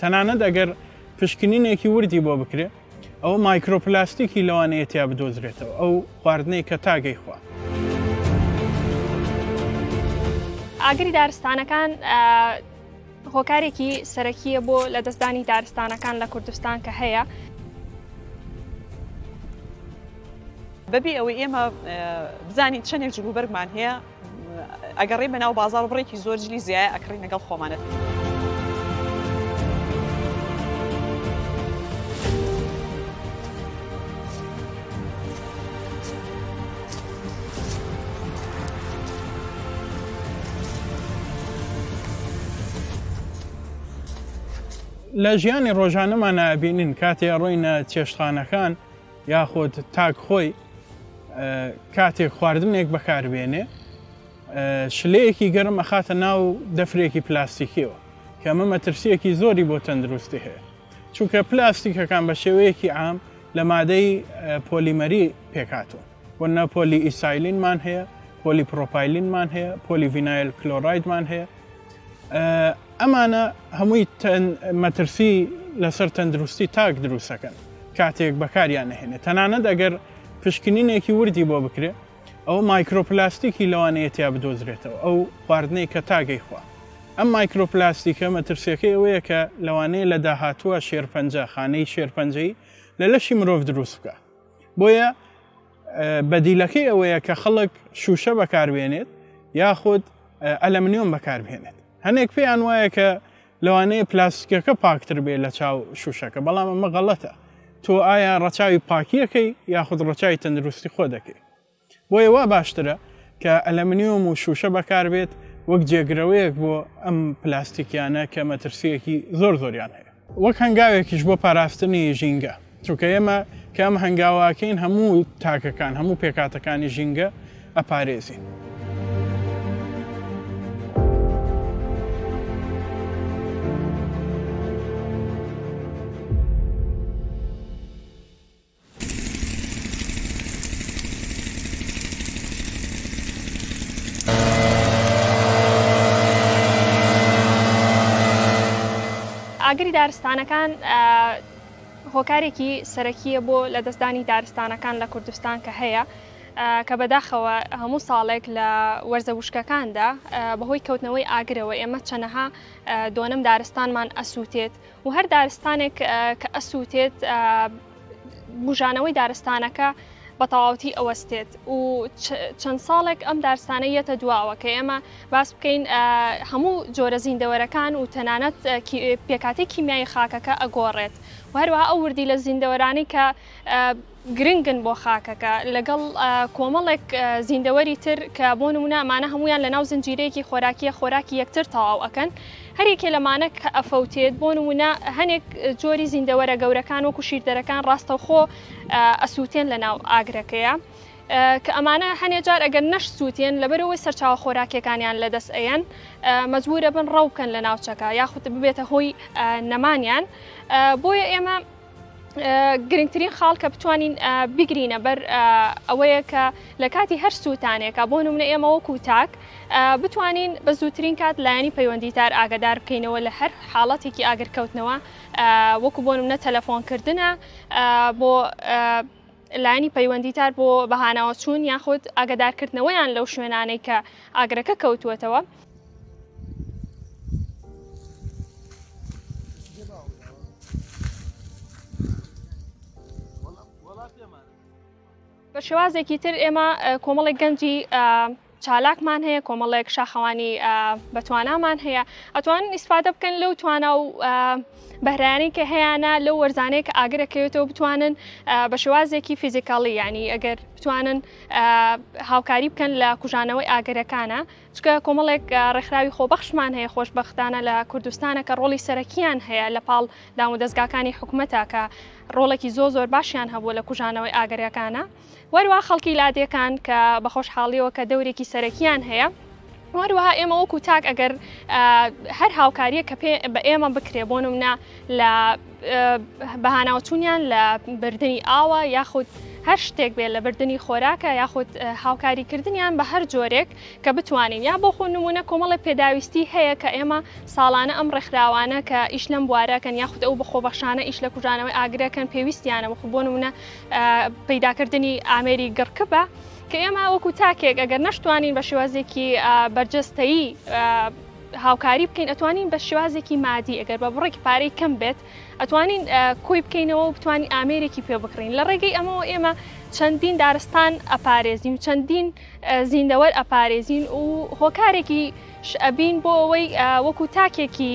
تەنانەت ئەگەر پشکنینێکی وردی بۆ بکرێ ئەوە مایکرۆپلاستیکی لەوانەیە تیا بدۆزرێتەوە ئەو خواردنەی کە تاگەی خوا. ئاگری دارستانەکان هۆکارێکی سەرەکیە بۆ لە دەستدانی دارستانەکان لە کوردستان کە هەیە بەبێ ئەوەی ئێمە بزانین چەندێک جلوبەرگمان هەیە ئەگەڕێی بەناو بازاڕ بڕێکی زۆر جلی زیایە ئەکڕی لەگەڵ خۆمانەت. لە ژیانی ڕۆژانەمانە بینین کاتێ ڕۆینە چێشتخانەکان یاخود تاک خۆی کاتێک خواردنێک بەکاربێنێ شلەیەکی گەرم ئەخاتە ناو دەفرێکی پلاستیکیەوە کەمە مەترسیەکی زۆری بۆ تەندروستی هەیە چونکە پلاستیکەکان بە شێوەیەکی عام لە مادەی پۆلیمەری پێکاتوە و نە پۆلی ئیسایلینمان هەیە پۆلی پرۆپایلینمان هەیە پۆلی ڤینایل کلۆرایدمان هەیە ئەمانە هەمووی مەترسی لەسەر تەندروستی تاک دروستەکەن کاتێک بەکاریان نهێنێت تەنانەت ئەگەر پشکنینێکی وردی بۆ بکرێت ئەو مایکرۆپلاستیکی لەوانەیەتیا بدۆزرێتەوە ئەو خواردنەی کە تاگەی خوا ئەم مایکرۆپلاستیکە مەترسیەکەی ئەوەیە کە لەوانەیە لە داهاتووە شێرپەنجە خانەی شێرپەنجەی لە لەشی مرۆڤ دروست بکە بۆیە بەدیلەکەی ئەوەیە کە خەڵک شوشە بەکاربێنێت یاخود ئەلەمنیۆم بەکاربێنێت هەنێک پێیان وایە کە لەوانەیە پلاستیکەکە پاکتر بێ لە چاو شوشەکە بەڵام ئەمە غەڵەتە تۆ ئایا ڕەچاوی پاکیەکەی یاخود ڕەچاوی تەندروستی خۆ دەکەیت بۆیە وا باشترە کە ئەلەمنیۆم و شووشە بەکار بێت وەک جێگرەوەیەک بۆ ئەم پلاستیکیانە کە مەترسییەکی زۆر زۆریان هەیە. وەک هەنگاوێکیش بۆ پاراستنی ژینگە، چونکە ئێمە کە ئەم هەنگاوە ئەکەین هەموو تاکەکان، هەموو پێکهاتەکانی ژینگە ئەپارێزین. ئاگری دارستانەکان هۆکارێکی سەرەکیە بۆ لە دەستدانی دارستانەکان لە کوردستان کە هەیە کە بەداخەوە هەموو ساڵێک لە وەرزە وشکەکاندا بەهۆی کەوتنەوەی ئاگرەوە ئێمە چەنەها دۆنم دارستانمان ئەسووتێت و هەر دارستانێک کە ئەسووتێت بوژانەوەی دارستانەکە بە تەواوەتی ئەوەستێت و چەند ساڵێک ئەم دارستانە یەتە دواوە کە ئێمە باس بکەین هەموو جۆرە زیندەوەرەکان و تەنانەت پێکاتی کیمیایی خاکەکە ئەگۆڕێت و هەروە ئەو وردی لە زیندەوەرانی کە گرنگن بۆ خاکەکە لەگەڵ کۆمەڵێک زیندەوەری تر کە بۆ نمونە ئەمانە هەمویان لە ناو زنجیرەیەکی خۆراکیە خۆراکی یەکتر تەواو ئەکەن هەریەکێ لەمانە کە ئەفەوتێت بۆ نمونە هەنێک جۆری زیندەوەرە گەورەکان وەکو شیردەرەکان ڕاستەوخۆ ئەسووتێن لە ناو ئاگرەکەیە. کە ئەمانە هەنێ جار ئەگەر نەش سووتێن لەبەرەوەی سەرچاوە خۆراکیەکانیان لەدەست ئەیەن مەجبورە بن ڕەو بکەن لە ناوچەکە یاخود ببێتە هۆی نەمانیان بۆیە ئێمە گرنگترین خاڵ کە بتوانین بگرینە بەر ئەوەیە کە لە کاتی هەر سووتانێکە بۆ نمونە ئێمە وەکو تاک بتوانین بە زووترین کات لایەنی پەیوەندیدار ئاگدار بکەینەوە لە هەر حاڵەتێکی ئاگرکەوتنەوە وەکو بۆ نمونە تەلەفۆنکردە بۆ لایەنی پەیوەندیدار بۆ بەهاناوە چوون یاخود ئاگدارکردنەوەیان لەو شوێنانەی کە ئاگرەکە کەوتووەتەوە بە شێوازێکی تر ئێمە کۆمەڵێک گەنجی چالاکمان هەیە کۆمەڵێک شاخەوانی بەتوانامان هەیە ئەتوان ئیسفادە بکەن لەو توانا و بەرانی کە هەیەە لە وەرزانەیە کە ئاگرەکەوێتەوە بتوانن بە شێوازێکی فیزیکاڵی ینی ئەگەر بتوانن هاوکاری بکەن لە کوژانەوەی ئاگرەکانە چونکە کۆمەڵێک ڕێکخراوی خۆبەخشمان هەیە خۆشبەختانە لە کوردستانە کە ڕۆڵی سەرەکیان هەیە لە پاڵ دام و دەستگاکانی حکوومەتە کە ڕۆڵێکی زۆ زۆر باشیان هەبوو لە کوژانەوەی ئاگرەکانە وەروە خەڵکی لادێکان کە بە خۆشحاڵیەوە کە دەورێکی سەرەکیان هەیە وەروەها ئێمە وەکو تاک ئەگەر هەر هاوکاریە کە پێ بە ئێمە بکرێ بۆ نمنا لە بەهاناوچوونیان لە بردننی ئاوە یاخود هەر شتێک بێت لە بردننی خۆراکە یاخود هاوکاری کردنیان بە هەر جۆرێک کە بتوانین یا بۆ خۆ نمونە کۆمەڵی پێداویستی هەیە کە ئێمە ساڵانە ئەم ڕێکخراوانە کە ئیش لەم بوارەکەن یاخود ئەو بەخۆبەخشانە ئیش لە کوژانەوەی ئاگرەکەن پێویستیانە وەخو بۆ نمونە پیداکردنی ئامێری گڕکە بە کە ئێمە وەکو تاکێک ئەگەر نەشتوانین بە شێوازێکی بەرجەستەیی هاوکاری بکەین ئەتوانین بە شێوازێکی مادی ئەگەر بە بڕێک پارەی کەم بێت ئەتوانین کۆی بکەینەوە و بتوانین ئامێرێکی پێ بکڕین لە ڕێگەی ئەمەوە ئێمە چەندین دارستان ئەپارێزین و چەندین زیندەوەر ئەپارێزین و هۆکارێکی شئبین بۆ ئەوەی وەکو تاکێکی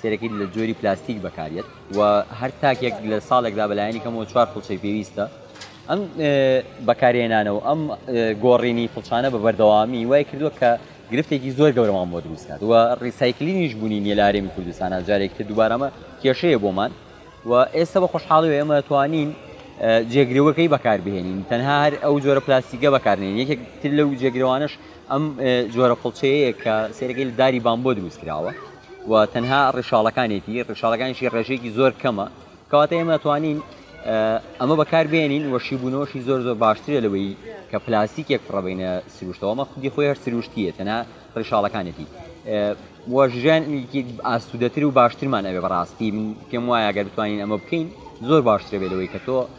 سێرەکیت لە جۆری پلاستیک بەکاریت و هەر تاکێک لە ساڵێکدا بەلایەنی کەمەوە چوار فڵچەی پێویستە ئەم بەکارێنانە و ئەم گۆڕینی فڵچانە بە بەردەوامی وای کردووە کە گرفتێکی زۆر گەورەمان بۆ دروستکات و ڕیسایکلینیش بوونی نیە لە ئارێمی کوردستانە جارێک تر دووبارەمە کێشەیە بۆمان و ئێستا بە خۆشحاڵی و ئێمە توانین جێگرەوەکەی بەکاربهێنین تەنها هەر ئەو جۆرە پلاستیکە بەکارنێن یەکێک تر لەو جێگرەوانش ئەم جۆرە فڵچەیە کە سێرەکەی لە داری بامبۆ دروستکراوە و تەنها ڕیشاڵەکانێتی ڕیشاڵەکانیشی ڕێژێکی زۆر کەمە کەواتە ئێمە توانین ئەمە بەکار بێنین و شیبوونەوەشی زۆر زۆر باشترە لەوەی کە پلاستیکێک فڕەبینە سروشتەوەمە خودی خۆی هەر سروشتیە تەنها ڕیشاڵەکانێتی وەژیان ئاسوودەتر و باشترمان ئەوێ بەڕاستی من پێم وایە گەر بتوانین ئەمە بکەین زۆر باشترە بێت لەوەی کە تۆ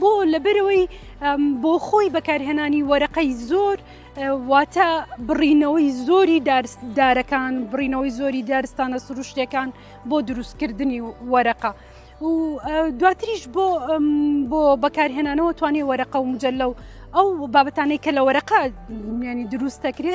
بۆ لەبەرەوەی بۆ خۆی بەکارهێنانی وەرەقەی زۆر واتە بڕینەوەی زۆری دارەکان بڕینەوەی زۆری دارستانە سروشتەکان بۆ دروستکردنی وەرەقە. و دواتریش بۆ بۆ بەکارهێنانەوە توانێ وەرەقە و مجللە و ئەو بابەتانەی کە لە وەرەقە ینی دروستەکرێ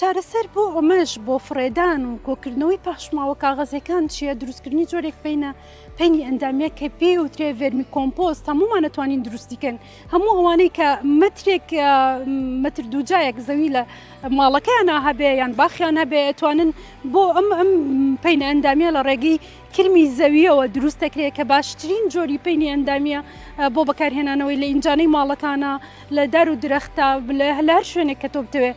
چارەسەر بۆ ئەمەش بۆ فڕێدان و کۆکردنەوەی پاشماوە کاغەزەکان چییە دروستکردنی جۆرێک پینە پینی ئەندامیە کە پێ وترێ ڤێرمی کۆمپۆست هەمومان ئەتوانین دروستیکەن هەموو ئەوانەی کە مترێک متر دووجایەک زەوی لە ماڵەکەیان هەبێ یان باخیان هەبێ ئەتوانن بۆ ئەم ئەم پینە ئەندامیە لە ڕێگەی کرمی زەویەوە دروست دەکرێت کە باشترین جۆری پینی ئەندامیە بۆ بەکارهێنانەوەی لە ئینجانەی ماڵەکانە لە دار و درەختە لە هەلار شوێنێک کە تۆ بتەوێت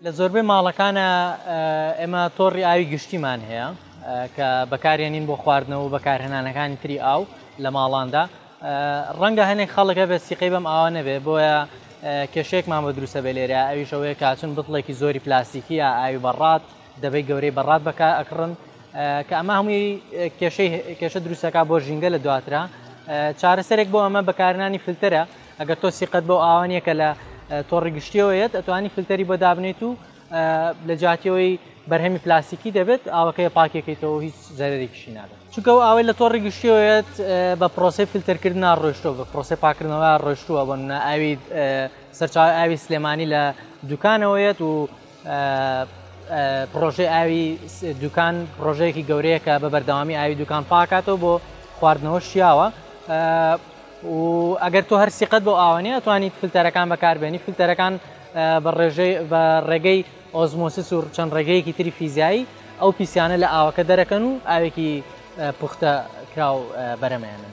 لە زۆربەی ماڵەکانە ئێمە تۆڕی ئاوی گشتیمان هەیە کە بەکارێنین بۆ خواردنەوە و بەکارهێنانەکانی تری ئاو لە ماڵاندا ڕەنگە هەنێک خەڵکە بە سیقەی بەم ئاوا نەبێ بۆیە کێشێکمان بە دروستە بێ لێرە ئەویشەوەیە کاچون بتڵێکی زۆری پلاستیکیە ئاوی بەڕات دەبەی گەورەی بەڕات بەکە ئەکڕن کە ئەمە هەمووی کێشەی کێشە دروستەکە بۆ ژینگە لە دواترا چارەسەرێک بۆ ئەمە بەکارنانی فلتەرە ئەگەر تۆ سیقەت بەو ئاوە نییە کە لە تۆڕی گشتیەوە یەت ئەتوانی فلتەری بۆ دابنێیت و لە جاتیەوەی بەرهەمی پلاستیکی دەبێت ئاوەکەی پاکێکیتەوە هیچ زەرێکیشی نابێت چونکە و ئاوەی لە تۆڕی گشتیەوەیەت بە پرۆسی فلتەرکردن ڕۆشتۆ بە پرۆسی پاکردنەوە ڕۆشتووە بۆ ئاوی سەرچاو ئاوی سلێمانی لە دوکانەوەیەت و پڕۆژەی ئاوی دوکان پڕۆژەیەکی گەورەیە کە بە بەردەوامی ئاوی دوکان پاکاتەوە بۆ خواردنەوە شیاوە و ئەگەر تۆ هەر سیقەت بۆ ئاوانەیە توانیت فلتەرەکان بەکاربێنی فلتەرەکان بە ڕێژەی بە ڕێگەی ئۆزمۆسس و چەند ڕێگەیەکی تری فیزایی ئەو پیسیانە لە ئاوەکە دەرەکەن و ئاوێکی پوختە کراو بەرەمێنن.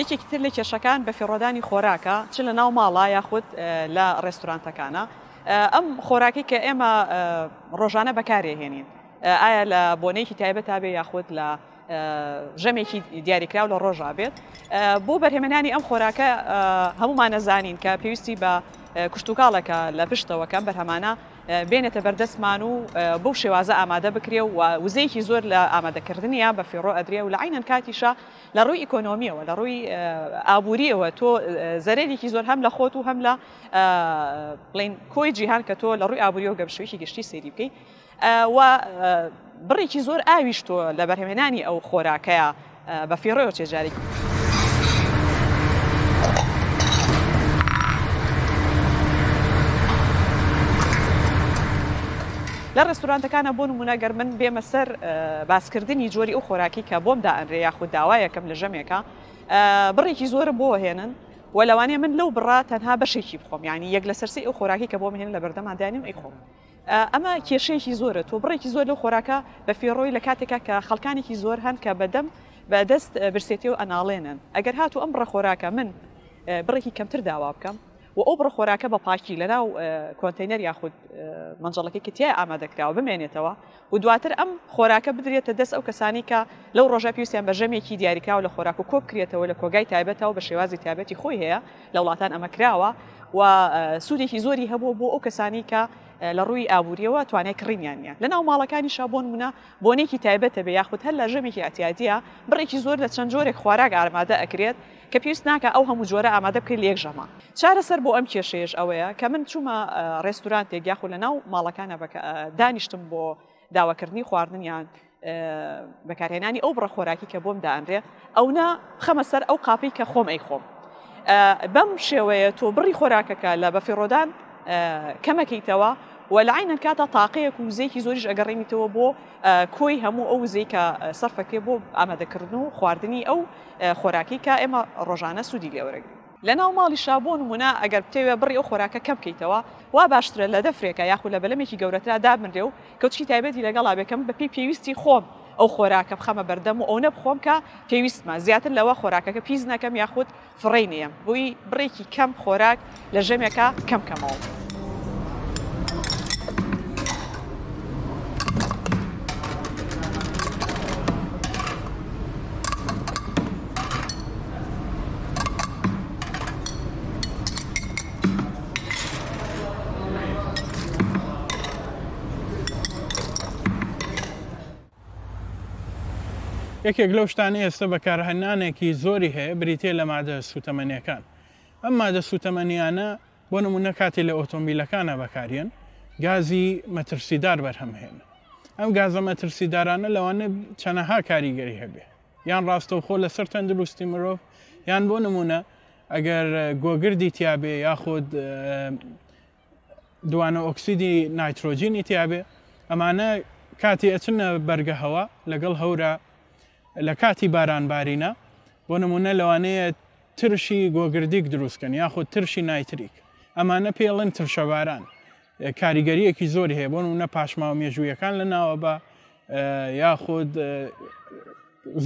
یەکێکی تر لە کێشەکان بەفیڕۆدانی خۆراکە چ لە ناو ماڵە یاخود لە ڕێستورانتەکانە ئەم خۆراکی کە ئێمە ڕۆژانە بەکارێهێنین ئایا لە بۆنەیەکی تایبەت تا بێ یاخود لە ژەمێکی دیاریکراو لە ڕۆژا بێت بۆ بەرهێمەنانی ئەم خۆراکە هەمومان نەزانین کە پێویستی بە کوشتتوکاڵەکە لە پشتەوەکەم بەرهەمانە بێنێتە بەردەستمان و بەو شێوازە ئامادە بکرێ و وزەیەکی زۆر لە ئامادەکردنیان بە فیڕۆ ئەدرێ و لە عینەن کاتیشە لە ڕووی ئیکۆنۆمیەوە لە ڕووی ئابووریەوە تۆ زەرێکی زۆر هەم لە خۆت و هەم لە بڵین کۆی جیهان کە تۆ لە ڕووی ئابووری و گەمشویی گشتی سێری بکەیت و بڕێکی زۆر ئاویش تۆ لە بەرهمێنانی ئەو خۆراکەیە بە فیڕۆ چێ جارێکی. لە ڕێستورانتەکانە بۆ نمونە گەر من بێمە سەر باسکردنی جۆری ئەو خۆراکی کە بۆم دائەنرێ یاخود داوایەکەم لە ژەمێکە بڕێکی زۆرم بۆ هێنن و لەوانەیە من لەو بڕا تەنها بەشێکی بخۆم ینی یەک لە سەرسی ئەو خۆراکی کە بۆ مهێن لە بەردەمادانیم ئەی خۆم ئەمە کێشەیەکی زۆرە تۆ بڕێکی زۆر لەو خۆراکە بە فێڕۆی لە کاتێکا کە خەڵکانێکی زۆر هەن کە بە دەم بە دەست برسێتی و ئەناڵێنن ئەگەر هاتوو ئەم بڕە خۆراکە من بڕێکی کەمتر داوا بکەم و ئەو بڕە خۆراکە بە پاکی لەناو کۆنتینەر یاخود مەنجەڵەکەی کە تیا ئامادەکراوە بمێنێتەوە و دواتر ئەم خۆراکە بدرێتە دەست ئەو کەسانی کە لەو ڕۆژە پێویستیان بە ژەمێکی دیاریکراوە لە خۆراک و کۆبکرێتەوە لە کۆگای تایبەتەوە بە شێوازی تایبەتی خۆی هەیە لە وڵاتان ئەمە کراوە و سوودێکی زۆری هەبوو بۆ ئەو کەسانی کە لە ڕووی ئابووریەوە توانای کڕینیان نیە لە ناو ماڵەکانی شابۆن منە بۆنێکی تایبەتە بێ یاخود هەر لە ژەمێکی ئەتیادە بڕێکی زۆر لە چەند جۆرێک خواراک ئارمادە ئەکرێت کە پێویست ناکە ئەو هەموو جۆرە ئامادە بکرێت لە یەک ژەمە چارەسەر بۆ ئەم کێشەیەش ئەوەیە کە من چوومە ڕێستورانتێک یاخود لە ناو ماڵەکانە بەکە دانیشتم بۆ داواکردنی خواردنیان بەکارهێنانی ئەو بڕە خۆراکی کە بۆم دانرێ ئەونا خەمە سەر ئەو قاپی کە خۆم ئەی خۆم بەم شێوەیە تۆ بڕی خۆراکەکە لە بەفیڕۆدان کەمەکەیتەوە و لە عینە کاتە تاقەیەک و وزێکی زۆریش ئەگەڕێنیتەوە بۆ کۆی هەموو ئەو وزەی کە سەرفەکرێ بۆ ئامادەکردن و خواردنی ئەو خۆراکی کە ئێمە ڕۆژانە سوودی لێوەرەگرین لە ناو ماڵیشا بۆ نموونە ئەگەر بتەوێ بڕی ئەو خۆراکە کەم کەیتەوە وا باشترە لە دەفرێکا یاخود لە بەلەمێکی گەورەترا دابنرێ و کەوچکی تایبەتی لەگەڵا بێ کە من بە پێی پێویستی خۆم ئەو خۆراکە بخەمە بەردەم و ئەونە بخۆم کە پێویستمە زیاتر لەوە خۆراکەکە پیس نەکەم یاخود فڕێی نەیەم بۆی بڕێکی کەم خۆراک لە ژەمێکا کەم کەمەوە. یەکێک لەو شتان ئێستا بەکارهنانێکی زۆری هەیە بریتە لە مادە سوتەمەنیەکان ئەم مادە سوتەمەنیانە بۆ نموونە کاتێ لە ئۆتۆمبیلەکانا بەکاریێن گازی مەترسیدار بەرهەم هێن ئەم گازە مەترسیدارانە لەوانە چەنەها کاریگەری هەبێ یان ڕاستەوخۆ لەسەر تەندروستی مرۆڤ یان بۆ نمونە ئەگەر گۆگردی تیاابێ یاخود دوانە ئۆکسیدی نایترۆجینی تیاابێ ئەمانە کاتی ئەچنە بەرگە هەوا لەگەڵ هەورە لە کاتی باران بارینە بۆ نمونە لەوانەیە ترشی گۆگردیک دروستکەن یاخود ترشی نایتریک، ئەمانە پێی ئەڵێن ترشەباران، کاریگەریەکی زۆری هەیە بۆ نمونە پاشماوە مێژوویەکان لە ناوەبە یاخود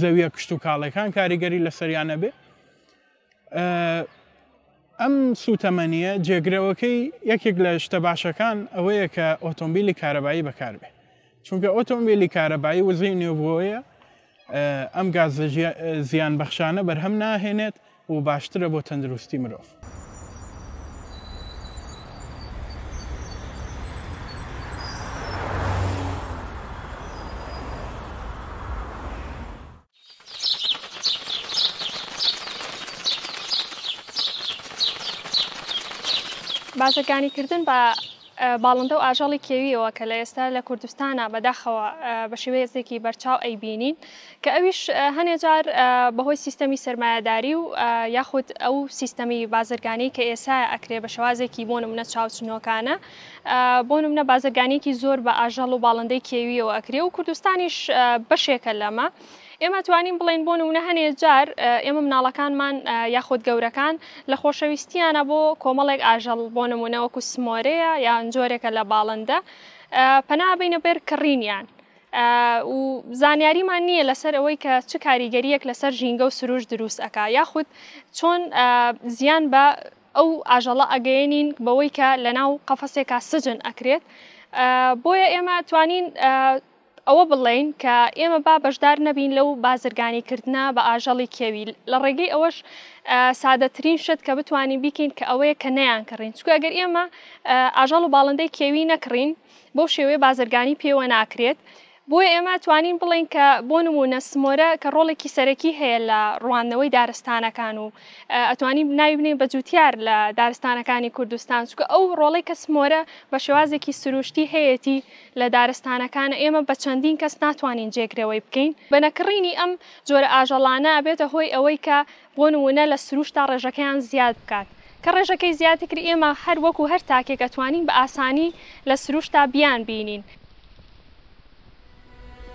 زەویە کشت و کاڵەکان کاریگەری لەسەریانە بێ ئەم سوتەمەنیە جێگرەوەکەی یەکێک لە شتە باشەکان ئەوەیە کە ئۆتۆمبیلی کارەبایی بەکاربێ چونکە ئۆتۆمبیلی کارەبایی وزەی نوێبووەیە ئەم گازە زیانبەخشانە بەرهەم ناهێنێت و باشترە بۆ تەندروستی مرۆڤ. باسەکانیکردن بە باڵندە و ئاژەڵی کێوییەوە کە لە ئێستا لە کوردستانا بەداخەوە بە شێوەیەزێکی بەرچاو ئەیبینین کە ئەویش هەنێ جار بەهۆی سیستەمی سەرمایەداری و یاخود ئەو سیستەمی بازرگانی کە ئێسا ئەکرێ بە شوازێکی بۆ نمونە چاوچنۆکانە بۆ نمونە بازرگانێکی زۆر بە ئاژەڵ و باڵندەی کێوییەوە ئەکرێ و کوردستانیش بەشێکە لەمە. ئێمە توانیم بڵێن بۆ نمونە هەنێ جار ئێمە مناڵەکانمان یاخود گەورەکان لە خۆشەویستیانە بۆ کۆمەڵێک ئاژەڵ بۆ نمونەوەکو سمۆرەیە یان جۆرێکە لە باڵندە پەنابینە بێر کڕینیان و زانیاریمان نییە لەسەر ئەوەی کە چ کاریگەریەک لەسەر ژینگە و سروش دروست ئەک یاخود چۆن زیان بە ئەو ئاژەڵە ئەگەێنین بەوەی کە لە ناو قەفەسێکا سجن ئەکرێت بۆیە ئێمە توانین ئەوە بڵێین کە ئێمە با بەشدار نەبین لەو بازرگانیکردنە بە ئاژەڵی کێوی، لە ڕێگەی ئەوەش سادەترین شت کە بتوانین بیکەین کە ئەوەیە کە نەیانکڕین، چونکە ئەگەر ئێمە ئاژەڵ و باڵندەی کێوی نەکڕین بەو شێوەیە بازرگانی پێوە ناکرێت، بۆیە ئێمە توانین بڵێین کە بۆ نموونە سمۆرە کە ڕۆڵێکی سەرەکی هەیە لە ڕوواندنەوەی دارستانەکان و ئەتوانین ناوی بنێین بە جووتیار لە دارستانەکانی کوردستان، چونکە ئەو ڕۆڵەی کە سمۆرە بە شێوازێکی سروشتی هەیەتی، لە دارستانەکانە ئێمە بە چەندین کەس ناتوانین جێگرەوەی بکەین. بە نەکڕینی ئەم جۆرە ئاژەڵانە ئەبێتە هۆی ئەوەی کە بۆ نموونە لە سرووشتا ڕێژەکەیان زیاد بکات. کە ڕێژەکەی زیاد کرد ئێمە هەر وەکوو هەر تاکێک ئەتوانین بە ئاسانی لە سرووشتا بیانبینین.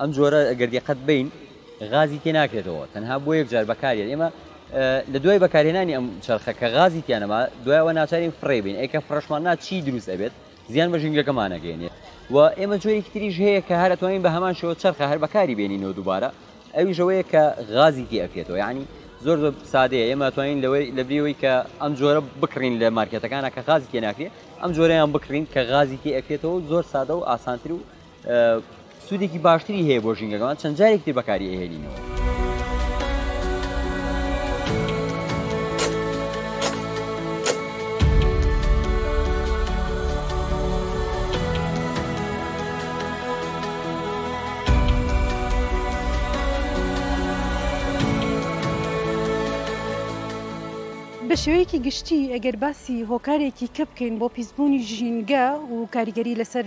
ئەم جۆرە گەر دیقەت بین غازی تێ ناکرێتەوە تەنها بۆ یەکجار بەکاریێت ئێمە لە دوای بەکارهێنانی ئەم چرخە کە غازی تیانەما دوایەوە ناچارین فڕێ بین ئەیکە فڕشمان نا چی دروست ئەبێت زیان بە ژینگەکەمانەگەێنێت و ئێمە جۆری تریش هەیە کە هەر توانین بە هەمان شێوە چرخە هەر بەکاری بێنینەوە دووبارە ئەویشەوەیە کە غازی تی ئەکرێتەوە یعنی زۆر زۆر سادەیە ئێمە توانین لەوەی لە بریەوەی کە ئەم جۆرە بکڕین لە مارکێتەکانە کە غازی تێناکرێت ئەم جۆرەیان بکڕین کە غازی تێ ئەکرێتەوە زۆر سادە و ئاسانتر و سوودێکی باشتری هەیە بۆ ژینگەکەمان چەند جارێک تر بەکاری ئەهێنینەوە. بە شێوەیەکی گشتی ئەگەر باسی هۆکارێکی کە بکەین بۆ پیسبوونی ژینگە و کاریگەری لەسەر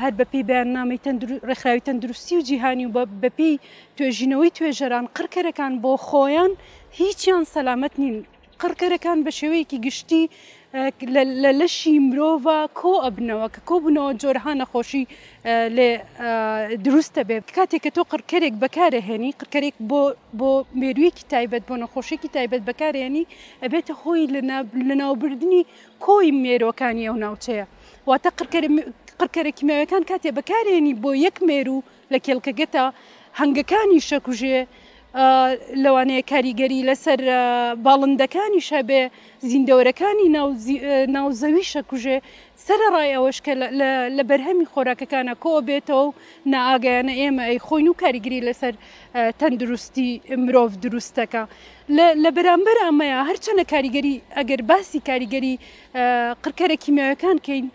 هەر بەپێی بەیاننامەی ڕێکخراوی تەندروستی و جیهانی و بەپێی توێژینەوەی توێژەران قڕکەرەکان بۆ خۆیان هیچیان سەلامەت نین قڕکەرەکان بە شێوەیەکی گشتی لە لەشی مرۆڤ کۆ ئەبنەوە کە کۆبوونەوە جۆرها نەخۆشی لێ دروستە بێت کاتێک کە تۆ قڕکەرێک بەکارهێنی قڕکەرێک بۆ بۆ مێرویەکی تایبەت بۆ نەخۆشیێکی تایبەت بەکارێنی ئەبێتە هۆی لەناوبردننی کۆی مێروەکانی ئەو ناوچەیە. واتە قڕکەرە کیمیاویەکان کاتێ بەکارێنی بۆ یەک مێرو لە کێڵکەگەتا هەنگەکانی شەکوژێ لەوانەیە کاریگەری لەسەر باڵندەکانی شەبێ زیندەوەرەکانی ناوزەوی شەکوژێ سەرڕای ئەوەش کە لە بەرهەمی خۆراکەکانە کۆ بێتەوە و نائاگەیانە ئێمە ئەی خۆین و کاریگری لەسەر تەندروستی مرۆڤ دروستەکە لە لە بەرامبەر ئەمەیا هەرچەنە کاریگەری ئەگەر باسی کاریگەری قڕکەرە کیمیاوەکان کەین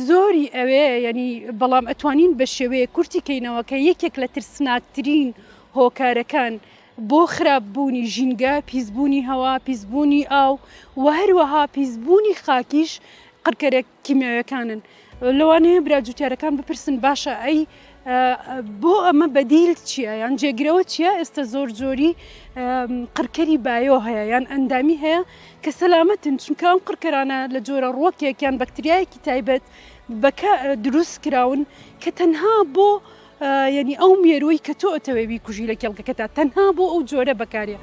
زۆری ئەوێ یعنی بەڵام ئەتوانین بە شێوەیە کورتی کەینەوە کە یەکێک لە ترسناکترین هۆکارەکان بۆ خراپ بوونی ژینگە پیسبوونی هەوا پیسبوونی ئاو و هەروەها پیسبوونی خاکیش قڕکەرە کیمیاویەکانن لەوانەیە برا جوتیارەکان بپرسن باشە ئەی بۆ ئەمە بەدیل چییە یان جێگرەوە چییە ئێستا زۆر زۆری قڕکەری بایۆ هەیە یان ئەندامی هەیە کە سەلامەتن چونکە ئەم قڕکەرانە لە جۆرە ڕۆکێکیان بەکتریایەکی تایبەت بەکە دروست کراون کە تەنها بۆ یەنی ئەو مێرووی کە تۆ ئەتەوێ بیکوژی لە کێڵگەکەتا تەنها بۆ ئەو جۆرە بەکارێ.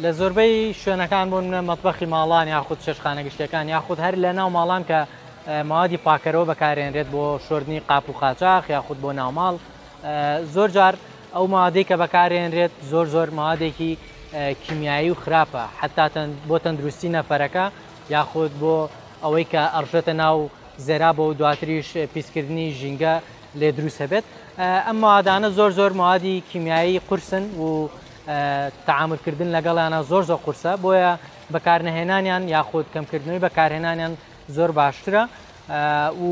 لە زۆربەی شوێنەکان بوون منە مەتبخی ماڵان یاخود چێشخانە گشتەکان یاخود هەر لە ناو ماڵان کە موادی پاکەرەوە بەکارێنرێت بۆ شردنی قاپ و قاچاخ یاخود بۆ ناوماڵ زۆر جار ئەو مادەی کە بەکارێنرێت زۆر زۆر مادێکی کیمیایی و خراپە حتا بۆ تەندروستی نەفەرەکە یاخود بۆ ئەوەی کە ئەڕژێتە ناو زێرا بۆ و دواتریش پیسکردنی ژینگە لێ دروستە بێت ئەم مادانە زۆر زۆر مادی کیمیایی قورسن و تعاملکردن لەگەڵیانە زۆر زۆر قورسە بۆیە بەکارنەهێنانیان یاخود کەمکردنەوەی بەکارهێنانیان زۆر باشترە و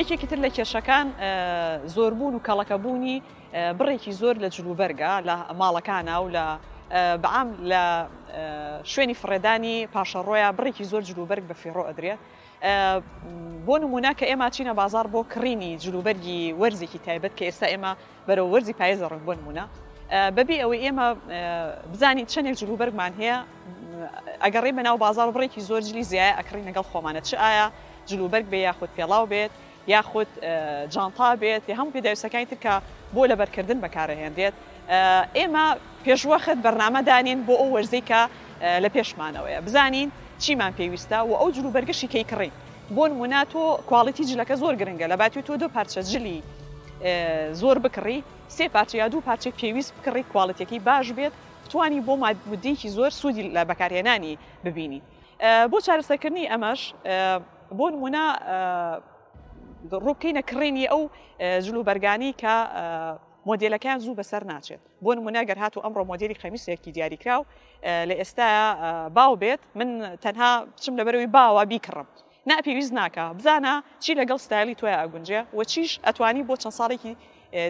یەکێکی تر لە کێشەکان زۆربوون و کەڵەکەبوونی بڕێکی زۆر لە جلوبەرگە لە ماڵەکانە و لە بەعام لە شوێنی فڕێدانی پاشەڕۆیە بڕێکی زۆر جلوبەرگ بە فیڕۆ ئەدرێت بۆ نمونە کە ئێمە چینە بازار بۆ کڕینی جلوبەرگی وەرزێکی تایبەت کە ئێستا ئێمە بەرەو وەرزی پایز دەڕۆین بۆ نموونە بەبێ ئەوەی ئێمە بزانین چەندێک جلوبەرگمان هەیە ئەگەڕێ بە ناو بازار بڕێکی زۆر جلی زیایە ئەکڕین لەگەڵ خۆمانە چ ئایا جلوبەرگ بێ یاخود پێڵاو بێت یاخود جانتا بێت یا هەموو پێداویستەکانی ترکە بۆ لەبەرکردن بەکارەهێنرێت ئێمە پێشوەخت بەرنمەدانین بۆ ئەو وەرزەی کە لە پێشمانەوەیە بزانین چیمان پێویستە و ئەو جلوبەرگشی کەی کڕین بۆ نمونە تۆ کواڵیتی جلەکە زۆر گرنگە لە باتی تۆ دو پارچە جلی زۆر بکڕی سێ پارچە یا دوو پارچەی پێویست بکڕی کوالڵتیەکەی باش بێت بتانی بۆ مادمدیکی زۆر سوودی لە بەکارهێنانی ببینی بۆ چارەسەکردنی ئەمەش بۆ نمونە ڕووبکەینە کڕینی ئەو جلو بەرگانی کە مۆدیلەکەیان زوو بەسەر ناچێت بۆ نموونە گەر هاتوو ئەمڕۆ مۆدێلی قەمیسێکی دیاریکراو لە ئێستایا باو بێت من تەنها بچم لەبەرەوەی باوە بیکڕم نا پێویست ناکە بزانە چی لەگەڵ ستایلی توای ئەگونجێ و چیش ئەتوانی بۆ چەند ساڵێکی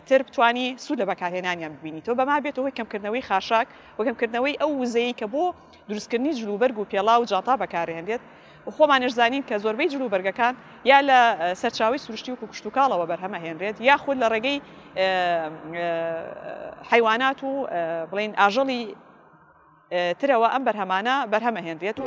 تر بتانی سوود لە بەکارهێنانیان ببینی تۆ بەما بێتەوەی کەمکردنەوەی خاشاک و کەمکردنەوەی ئەو وزەیە کە بۆ دروستکردنی جلوبەرگ و پێڵا و جاتا بەکارهێنێت و خۆمانیش زانین کە زۆربەی جل و بەرگەکان یا لە سەرچاوەی سروشتی وەکو کشتوکاڵەوە بەرهەم ئەهێنرێت یا خود لە ڕێگەی حیوانات و بڵین ئاژەڵی ترەوە ئەم بەرهەمانە بەرهەمە هێنرێت و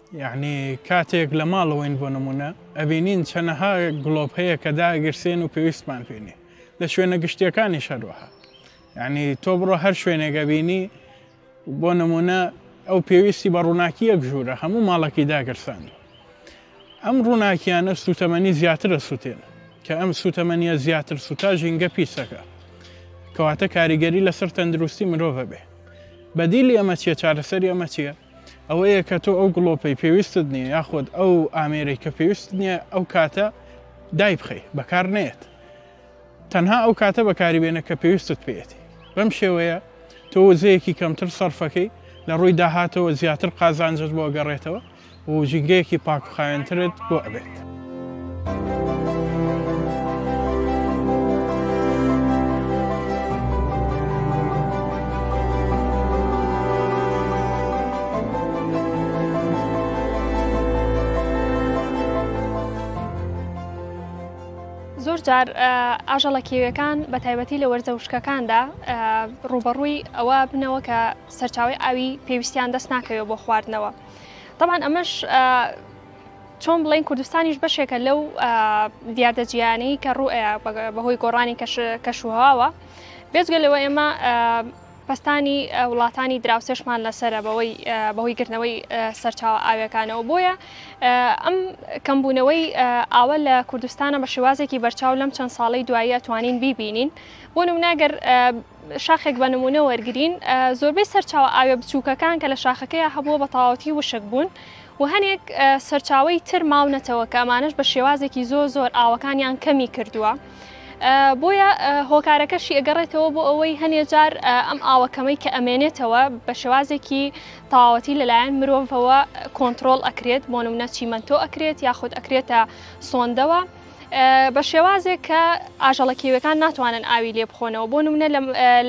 یەعنی کاتێک لە ماڵەوەین بۆ نموونە ئەبینین چەنەها گڵۆپ هەیە کە داگرسێن و پێویستمان پێ نیە لە شوێنە گشتیەکانیش هەروەها یەعنی تۆ بڕۆ هەر شوێنێک ئەبینی بۆ نموونە ئەو پێویستی بە ڕووناکیەک ژوورە هەموو ماڵەکەی داگرساند ئەم ڕووناکیانە سوتەمەنی زیاترە سوتێن کە ئەم سوتەمەنیە زیاتر سوتا ژینگە پیسەکە کەواتە کاریگەری لەسەر تەندروستی مرۆڤە بێ بەدیلی ئەمە چیە چارەسەری ئەمە چیە ئەوەیە کە تۆ ئەو گڵۆپەی پێویستت نییە یاخود ئەو ئامێرەی کە پێویست نییە ئەو کاتە دایبخەی بەکار نێت تەنها ئەو کاتە بەکاری بێنە کە پێویستت پێێتی بەم شێوەیە تۆ وزەیەکی کەمتر سەرفەکەی لە ڕووی داهاتەوە زیاتر قازانجت بۆ گەڕێتەوە و ژینگەیەکی پاکخایەنترت بۆ ئەبێت. بێت. زۆرجار ئاژەڵە کێوێکان بە تایبەتی لە وەرزە وشکەکاندا ڕوبەڕووی ئەوە بنەوە کە سەرچاوی ئاوی پێویستیان دەست ناکەوێت بۆ خواردنەوە. طبعاان ئەمەش چۆن بڵێین کوردستانیش بەشێکە لەو دیاردە جیانی کە ڕوئ بەهۆی گۆڕانی کەشوهواوە بێزگە لەوە ئێمە پستانی وڵاتانی دراوسێشمان لەسرە بەوەی بەهۆی گرنەوەی سەرچاوە ئاوێکانەوە بۆیە ئەم کەمبوونەوەی ئاوە لە کوردستانە بە شێوازێکی بەرچاو لەم چەند ساڵی دواییە توانین بیبینین بۆ نموناگەر شاخێک بە نموونە وەرگرین، زۆربەی سەرچاوە ئاوییە بچووکەکان کە لە شاخەکەیا هەبووە بە تەواوەتی وشک بوون و هەنێک سەرچاوەی تر ماونەتەوە کە ئەمانەش بە شێوازێکی زۆر زۆر ئاوەکانیان کەمی کردووە. بۆیە هۆکارەکەشی ئەگەڕێتەوە بۆ ئەوەی هەنێ جار ئەم ئاوەکەمەی کە ئەمێنێتەوە بە شێوازێکی تەواوەتی لەلایەن مرۆڤەوە کۆنتترۆل ئەکرێت بۆ نمونە چیمەنتۆ ئەکرێت یاخود ئەکرێتە سۆندەوە بە شێوازێک کە ئاژەڵە کێویەکان ناتوانن ئاوی لێ بخۆنەوە بۆ نمونە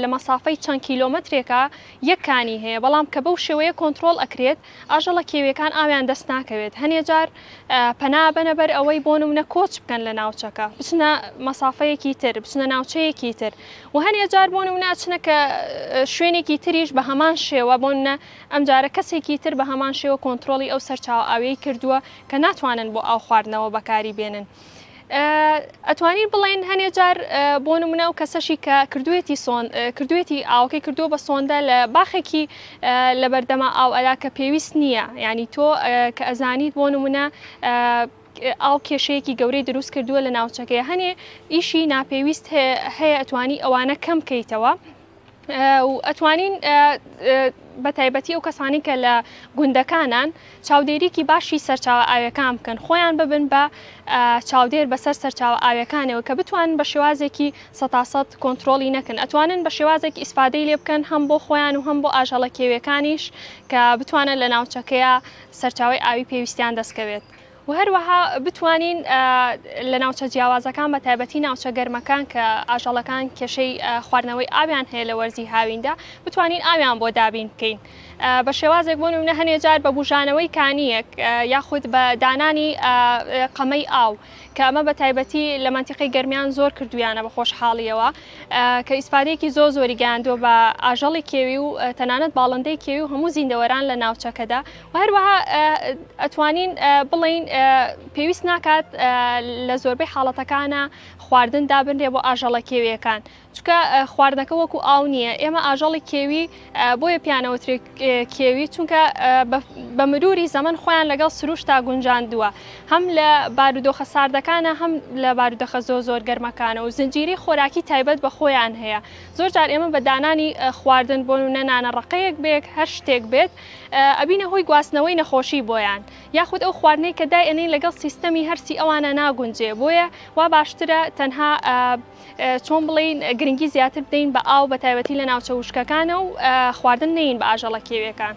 لە مەسافەی چەند کیلۆمەترێکە یەک کانی هەیە بەڵام کە بەو شێوەیە کۆنتترۆل ئەکرێت ئاژەڵە کێویەکان ئاویان دەست ناکەوێت هەنێ جار پەنا بەنە بەر ئەوەی بۆ نمونە کۆچ بکەن لە ناوچەکە بچنە مەسافەیەکی تر بچنە ناوچەیەکی تر و هەنێ جار بۆ نمونە چنە کە شوێنێکی تریش بە هەمان شێوە بۆنە ئەم جارە کەسێکی تر بە هەمان شێوە کۆنتترۆلی ئەو سەرچاو ئاوی کردووە کە ناتوانن بۆ ئاو خواردنەوە بەکاری بێنن ئەتوانین بڵێن هەنێ جار بۆ نمونە و کەسەشی کە کردوێتی کردوێتی ئاوکەی کردو بە سۆندە لە باخێکی لە بەردەما ئاو ئەلا کە پێویست نییە ینی تۆ کە ئەزانیت بۆ نمونە ئاو کێشەیەکی گەورەی دروست کردووە لە ناوچەکەی هەنێ ئیشی ناپێویست هەیە ئەتوانی ئەوانە کەم بکەیتەوە و ئەتوانین بە تایبەتی ئەو کەسانی کە لە گوندەکانان چاودێریکی باشی سەرچاوە ئاوێکان بکەن خۆیان ببن بە چاودێر بەسەر سەرچاوە ئاوێکانەوە کە بتوانن بە شێوازێکی سەتاسەد کۆنتترۆلی نەکەن ئەتوانن بە شێوازێک ئیسفادەی لێ بکەن هەم بۆ خۆیان و هەم بۆ ئاژەڵە کێوێکانیش کە بتوانن لە ناوچەکەیە سەرچاوی ئاوی پێویستیان دەستکەوێت. و هەروەها بتوانین لە ناوچە جیاوازەکان بە تایبەتی ناوچە گەرمەکان کە ئاژەڵەکان کێشەی خواردنەوەی ئاویان هەیە لە وەرزی هاویندا بتوانین ئاویان بۆ دابین بکەین بە شێوازێک بۆ نمونە هەنێ جار بە بژانەوەی کانیەک یاخود بە دانانی قەمەی ئاو کە ئەمە بە تایبەتی لە منتیقی گەرمیان زۆر کردویانە بە خۆشحاڵیەوە کە ئیسپادێکی زۆ زۆری گەیاندووە بە ئاژەڵی کێوی و تەنانەت باڵندەی کێوی و هەموو زیندەوەران لە ناوچەکەدا و هەروەها ئەتوانین بڵێین پێویست ناکات لە زۆربەی حاڵەتەکانە خواردن دابنرێ بۆ ئاژەڵە کێویەکان چکە خواردنەکە وەکو ئاو نییە ئێمە ئاژەڵی کێوی بۆیە پیانەوەترێک کێوی چونکە بە مروری زەمن خۆیان لەگەڵ سروشتا گونجاندووە هەم لە بارودۆخە ساردەکانە هەم لە بارودەخە زۆ زۆر گەرمەکانە و زنجیری خۆراکی تایبەت بە خۆیان هەیە زۆر جار ئێمە بە دانانی خواردن بۆ نەنانە ڕقەیەک بێک هەر شتێک بێت ئەبینە هۆی گواستنەوەی نەخۆشی بۆیان یاخود ئەو خواردنەی کە دایئەنین لەگەڵ سیستەمی هەرسی ئەوانە ناگونجێ بۆیە وا باشترە تەنها چۆن بڵین گرنگی زیاتر بدەین بە ئاو بە تایبەتی لە ناوچە وشکەکانە و خواردن نین بە ئاژەڵە کێوێکان.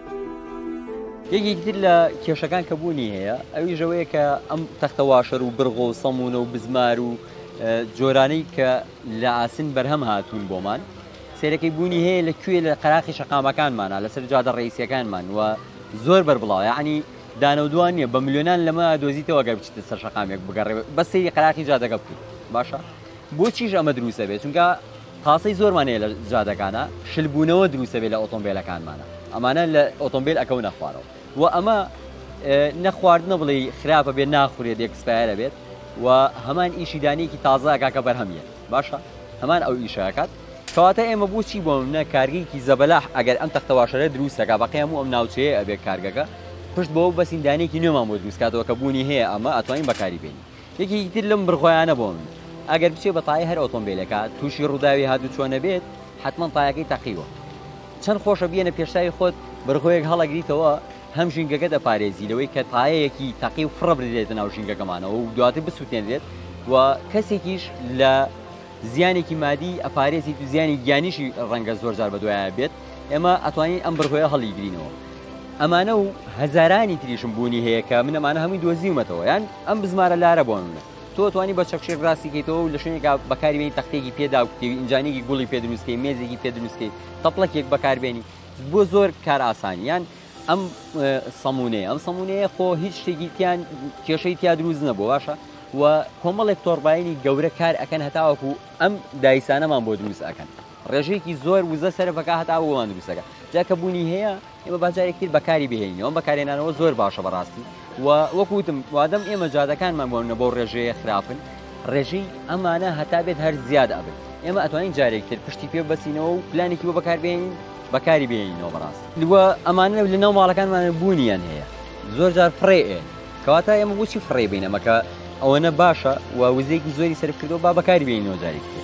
یەکێکی تر لە کێشەکان کە بوونی هەیە ئەویش ئەوەیە کە ئەم تەختە واشەر و برغۆ و سەمونە و بزمار و جۆرانەی کە لە ئاسن بەرهەم هاتوون بۆمان سێرەکەی بوونی هەیە لە کوێ لە قەراخی شەقامەکانمانە لەسەر جادە ڕئیسیەکانمان وە زۆر بەربڵاو یعنی دانە و دوان نیە بە ملیۆنان لەمە دۆزیتەوە گەر بچیتە سەر شەقامێک بگەڕێ بە سەیری قەراخی جادەگە بکەیت باشە بۆچیش ئەمە دروستە بێت چونکە پاسەی زۆرمان هەیە لە جادەکانا شل بوونەوە دروست دەبێت لە ئۆتۆمبێلەکانمانا ئەمانە لە ئۆتۆمبیل ئەکەونە خوارەوە و ئەمە نەخواردنە بڵێ خراپە بێت ناخورێت یەکسپایرە بێت و هەمان ئیشی دانیەکی تازەکە کە بەرهەمیە باشە هەمان ئەو ئیشەکات کەواتە ئێمە بۆچی بۆ منە کارگەیەکی زەبەلاح ئەگەر ئەم تەختەواشەرە دروستەکە بەقی هەموو ئەم ناوچەیە ئەبێ کارگەکە پشت بەوە بەسیندانێکی نوێمان بۆ دروستکاتەوە کە بوونی هەیە ئەمە ئەتوانین بەکاری بێنی یەکێکی تر لەم بڕگۆیانە بۆ من ئەگەر بچێ بە تایەی هەر ئۆتۆمبیلێکا تووشی ڕووداوی هاتووچۆ نەبێت حەتمەن تایەکەی تەقیوە چەند خۆشە بیەنە پێشتاوی خۆت بڕگۆیەک هەڵەگریتەوە هەم ژینگەکە دەپارێزی لەوەی کە تایەیەکی تەقی و فڕە بدرێتە ناو ژینگەکەمانەوە و دواتر بسووتێنرێت و کەسێکیش لە زیانێکی مادی ئەپارێزیت و زیانی گیانیشی ڕەنگە زۆرجار بەدوایان بێت ئێمە ئەتوانین ئەم بڕگۆیە هەڵیگرینەوە ئەمانە و هەزارانی تریشم بوونی هەیە کە من ئەمانە هەمووی دۆزیومەتەوە یان ئەم بزمارە لارە بۆن منە تۆ توانی بە چەکشێک ڕاستیکەیتەوە و لە شوێنێکا بەکاروێنی تەختێکی پێدا و کتێوی ئینجانێکی گوڵی پێ دروستکەی مێزێکی پێ دروستکەی تەپڵەکێک بەکاربێنی بۆ زۆر کار ئاسانیان ئەم سەمونەیە ئەم سەمونەیە خۆ هیچ شتێکی تیان کێشەی تیا دروست نەبوو باشە و کۆمەڵێک تۆڕباینی گەورە کار ئەەکەن هەتاوەکو ئەم دایسانەمان بۆ دروست ئەەکەن ڕێژەیەکی زۆر وزە سەرفەکە هەتا ئەو وڵاندو بیسەکە جا کە بوونی هەیە ئێمە باجارێک تر بەکاری بهێنەوە بەکارێنانەوە زۆر باشە بەڕاستی و وەکوتم وادەم ئێمە جادەکانمان بۆنە بۆ ڕێژەیە خراپن ڕێژەی ئەمانە هەتا بێت هەر زیاد ئەبن ئێمە ئەتوانین جارێک تر پشتی پێ بەسینەوە و پلانێکی بۆ بەکاربێنین بەکاری بێنینەوە بەڕاست لوە ئەمانە لە ناو ماڵەکانمان بوونیان هەیە زۆر جار فڕێ کەواتە ئێمە بچی فڕێ بینەمەکە ئەوەنە باشە و وزێکی زۆری سەرکردەوە با بەکاری بێنەوە جارێک تر